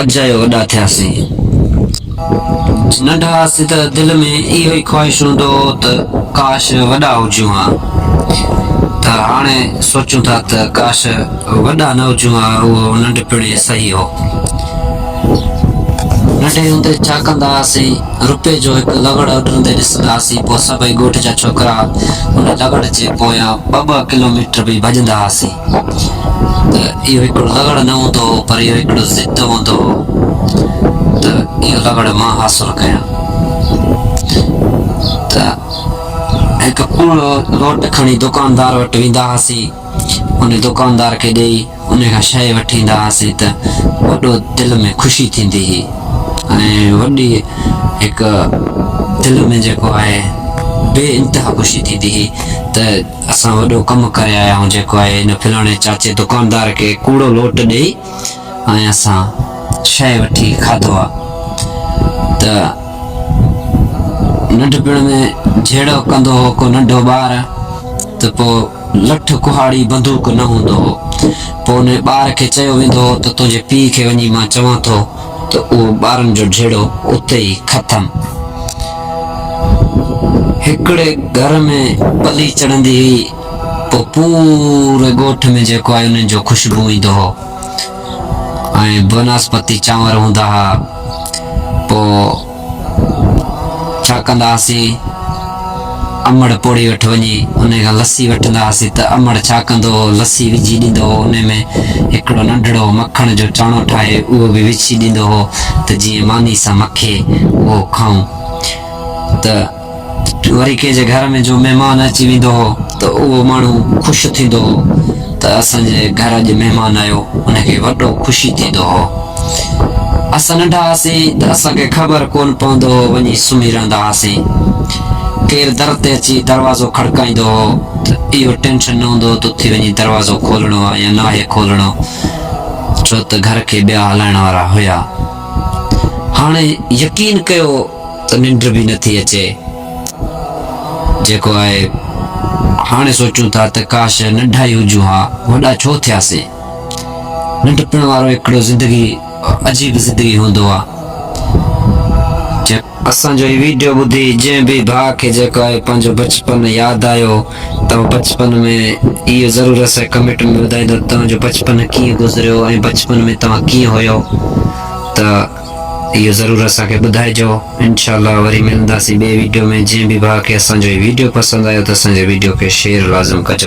اجايو وڏا ٿياسين. ننڍا هئاسين ته دل ۾ اهو ئي خواهش هوندو هو ته ڪاش وڏا هجون ها ته هاڻي سوچون ٿا ته ڪاش وڏا نه هجون ها اهو ننڍپڻ ئي صحيح هو. ننڍي هوندي ڇا ڪندا هئاسين روپي جو هڪ لغڙ اڏرندي ڏسندا هئاسين پوء سڀئي ڳوٺ جا ڇوڪرا ان لغڙ جي پويان ٻه ٻه ڪلوميٽر به ڀڄندا هئاسين. ته اهو هڪڙو لغڙ نه هوندو هو پر اهو هڪڙو ضد هوندو هو ته اهو لغڙ مان حاصل ڪيان ته هڪ پورو لوٽ کڻي دڪاندار وٽ ويندا هئاسين ان دڪاندار کي ڏيئي ان کان شيء وٺي ايندا هئاسين ته وڏو دل ۾ خوشي ٿيندي هئي ۽ وڏي هڪ دل ۾ جيڪو آهي بي انتها خوشي ٿيندي هئي ته اسان وڏو ڪم ڪري آيا آهيون جيڪو آهي ان فلاڻي چاچي دڪاندار کي ڪوڙو لوٽ ڏئي ۽ اسان شيء وٺي کاڌو آ ته ننڍپڻ ۾ جهيڙو ڪندو هو ڪو ننڍو ٻار ته پو لٺ ڪهاڙي بندوق نه هوندو هو پو ان ٻار کي چيو ويندو هو ته تنهنجي پيء کي وڃي مان چوان ٿو ته اهو ٻارن جو جهيڙو اتي ئي ختم. هڪڙي گهر ۾ پلي چڙهندي هئي، پوء پوري ڳوٺ ۾ جيڪو آهي انهن جو خوشبو ايندو هو ۽ بناسپتي چانور هوندا ها، پوء ڇا ڪندا هئاسين؟ امڙ پوڙهي وٽ وڃي انهي کان لسي وٺندا هئاسين ته امڙ ڇا ڪندو هو، لسي وجهي ڏيندو هو، انهي ۾ هڪڙو ننڍڙو مکڻ جو چاڻو ٺاهي اهو به وجهي ڏيندو هو ته جيئن ماني سان مکي اهو کائون ته. وري ڪنهن جي گهر ۾ جو مهمان اچي ويندو هو ته اهو ماڻهو خوش ٿيندو هو ته اسان جي گهر اڄ مهمان آيو ان کي وڏو خوشي ٿيندو هو. اسان ننڍا هئاسين ته اسان کي خبر ڪونه پوندو هو وڃي سمهي رهندا هئاسين. ڪير در تي اچي دروازو کڙڪائيندو هو ته اهو ٽينشن نه هوندو هو ته اٿي وڃي دروازو کولڻو آهي يا ناهي کولڻو ڇو ته گهر کي ٻيا هلائڻ وارا هيا. هاڻي يقين ڪيو ته ننڊ به نه ٿي اچي. جيڪو آهي هاڻي سوچون ٿا ته ڪاش ننڍا ئي هجون ها، وڏا ڇو ٿياسين. ننڍپڻ وارو هڪڙو زندگي عجيب زندگي هوندو آهي. اسان جو هي ويڊيو ٻڌي جنهن به ڀاء کي جيڪو آهي پنهنجو بچپن ياد آيو ته هو بچپن ۾ اهو ضرور اسانکي ڪمينٽ ۾ ٻڌائيندو ته توهان جو بچپن ڪيئن گذريو ۽ بچپن ۾ توهان ڪيئن هيو ته اهو ضرور اسان کي ٻڌائجو انشاء الله وري ملنداسين ٻئي ويڊيو ۾ جنهن به ڀاء کي اسان جو هي ويڊيو پسند آيو ته اسان جي ويڊيو کي شيئر لازم ڪجو.